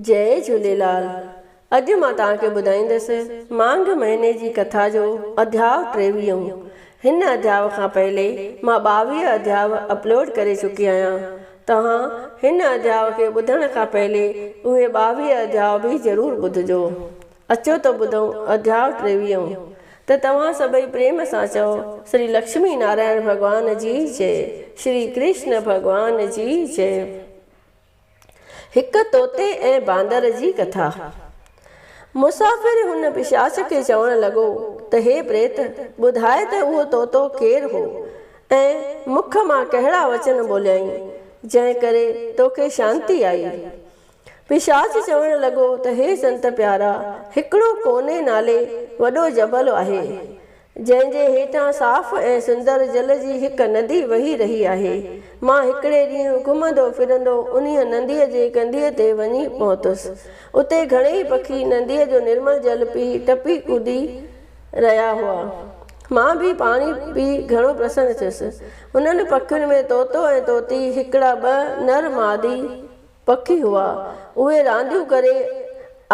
جئي جهوليلال اڄ مان توهان کي ٻڌائيندس مانگهه مهيني جي ڪٿا جو اڌياء ٽيويهون هن اڌياء کان پهلي مان ٻاويهه اڌياء اپلوڊ ڪري چڪي آهيان توهان هن اڌياء کي ٻڌڻ کان پهلي اهي ٻاويهه اڌياء به ضرور ٻڌجو اچو ته ٻڌون اڌياء ٽيويهون ته توهان سڀئي پريم سان چئو شري لڪشمي نارائڻ ڀڳوان جي جئي شري ڪرشن ڀڳوان جي جئي. هڪ طوطي ۽ باندر جي ڪٿا. مسافر هن پشاچ کي چوڻ لڳو ته هي پريت، ٻڌاء ته اهو طوطو ڪير هو ۽ مک مان ڪهڙا وچن ٻوليائين، جنهن ڪري توکي شانتي آئي. پشاچ چوڻ لڳو ته هي سنت پيارا، هڪڙو ڪوني نالي وڏو جبل آهي، جنهن جي هيٺان صاف ۽ سندر جل جي هڪ ندي وهي رهي آهي. مان هڪڙي ڏينهن گهمندو ڦرندو انهيء نديء جي ڪنڌيء تي وڃي پهتس. اتي گهڻيئي پکي نديء جو نرمل جل پي ٽپي ڪودي رهيا هئا. مان به پاڻي پي گهڻو پرسن ٿيس. انهن پکين ۾ طوطو ۽ طوطي هڪڙا ٻه نر مادي، پکي هئا، اهي رانديون ڪري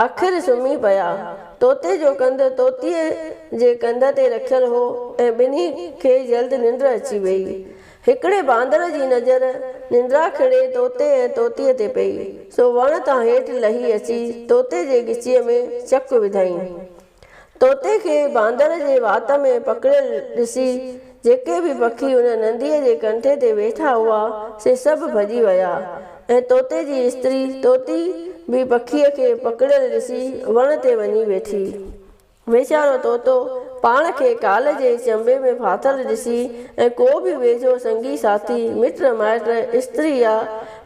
آخر سمهي پيا. طوطي جو ڪنڌ طوطيء جي ڪنڌ تي رکيل هو ۽ ٻنهي کي جلد ننڊ اچي ويئي. هڪڙي باندر جي نظر ننڊاکڙي طوطي ۽ طوطيء تي پئي، سو وڻ تان هيٺ لهي اچي طوطي جي ڳچيء ۾ چڪ وڌائين. طوطي کي باندر جي وات ۾ پڪڙيل ڏسي جيڪي به پکي ان ننديء جي ڪنٺي تي ويٺا هئا، سي سڀ ڀڄي ويا ۽ طوطي جي استري طوطي به پکيء کي پڪڙيل ڏسي وڻ تي وڃي ويٺي. ويچارو طوطو پاڻ کي ڪال جي چنبي ۾ ڦاٿل ڏسي ۽ ڪو به ويجهو سنگي ساٿي، مٽ مائٽ، استري يا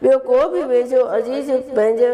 ٻيو ڪو به ويجهو عزيز پنهنجو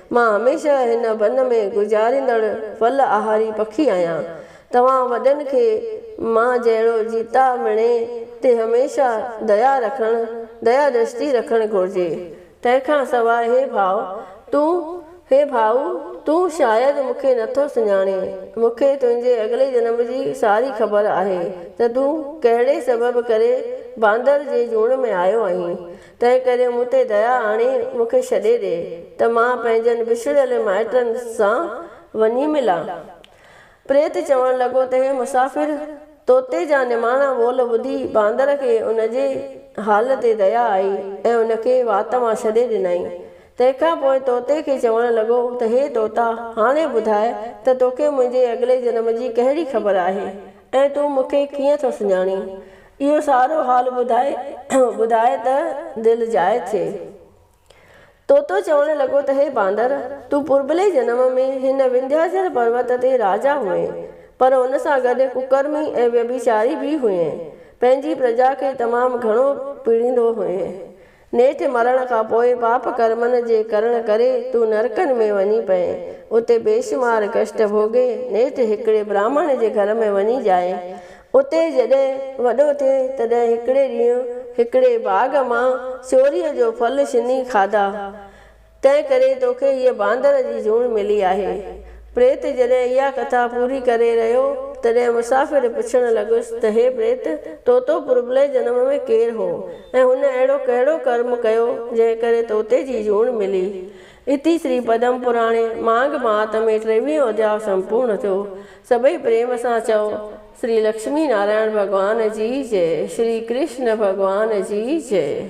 مان هميشه هن بن ۾ گذاريندڙ ڦل آهاري پکي آهيان. توهان وڏن کي مان جهڙو جيتا مڻي تي هميشه ديا رکڻ، ديا دشتي رکڻ گهرجي. تنهن کان سواء هي ڀاء تون، هي ڀائو تون شايد مون کي نه ٿو سڃاڻين. مون کي تنهنجي اڳلي جنم جي ساري خبر آهي ته تون ڪهڙي سبب ڪري باندر جي جوڻ ۾ آيو آهين. تنهن ڪري مون تي ديا آڻي مون کي ڇڏي ڏي ته مان پنهنجن وڇڙيل مائٽن سان وڃي ملان. پريت چوڻ لڳو ته هي مسافر طوطي جا نماڻا ٻول ٻڌي باندر کي ان جي حال تي ديا آئي ۽ ان کي وات مان ڇڏي ڏنائين. تنهن کان پوء طوطي کي چوڻ لڳو ته هي طوطا هاڻي ٻڌاء ته توکي منهنجي اڳلي جنم جي ڪهڙي خبر آهي ۽ تون مون کي ڪيئن ٿو سڃاڻين؟ اهو سارو حال ٻڌائي ٻڌائي ته دل جاء ٿئي. طوطو چوڻ لڳو ته هي باندر! تون پرڀلي جنم ۾ هن وندهياچل پروت تي راجا هئين، پر ان سان گڏ ڪڪرمي ۽ ويڀيچاري به هئين. پنهنجي پرجا کي تمام گهڻو پيڙيندو هئين. نيٺ مرڻ کان پوء پاپ ڪرمن جي ڪرڻ ڪري تون نرڪن ۾ وڃي پئين. اتي بيشمار ڪشٽ ڀوڳي نيٺ هڪڙي براهمڻ جي گهر ۾ وڃي ڄائين. اتي جڏهن وڏو ٿئي تڏهن هڪڙي ڏينهن هڪڙي باغ مان سيوريء جو ڦل شني کاڌا. تنهن ڪري توکي هيء باندر جي جوڻ ملي آهي. پريت جڏهن اها ڪٿا پوري ڪري رهيو، تڏهن مسافر پڇڻ لڳس ته هي پريت، توتو پربلئه جنم ۾ ڪير هو ۽ هن اهڙو ڪهڙو ڪرم ڪيو، جنهن ڪري توتي جي جوڻ ملي؟ اتي شري پدم پراڻي مانگ مهات ۾ ٽيويهون اڌياء سمپورڻ ٿيو. سڀئي پريم سان چئو، شري لڪشمي نارائڻ ڀڳوان جي جئه! شري ڪرشن ڀڳوان جي جئه!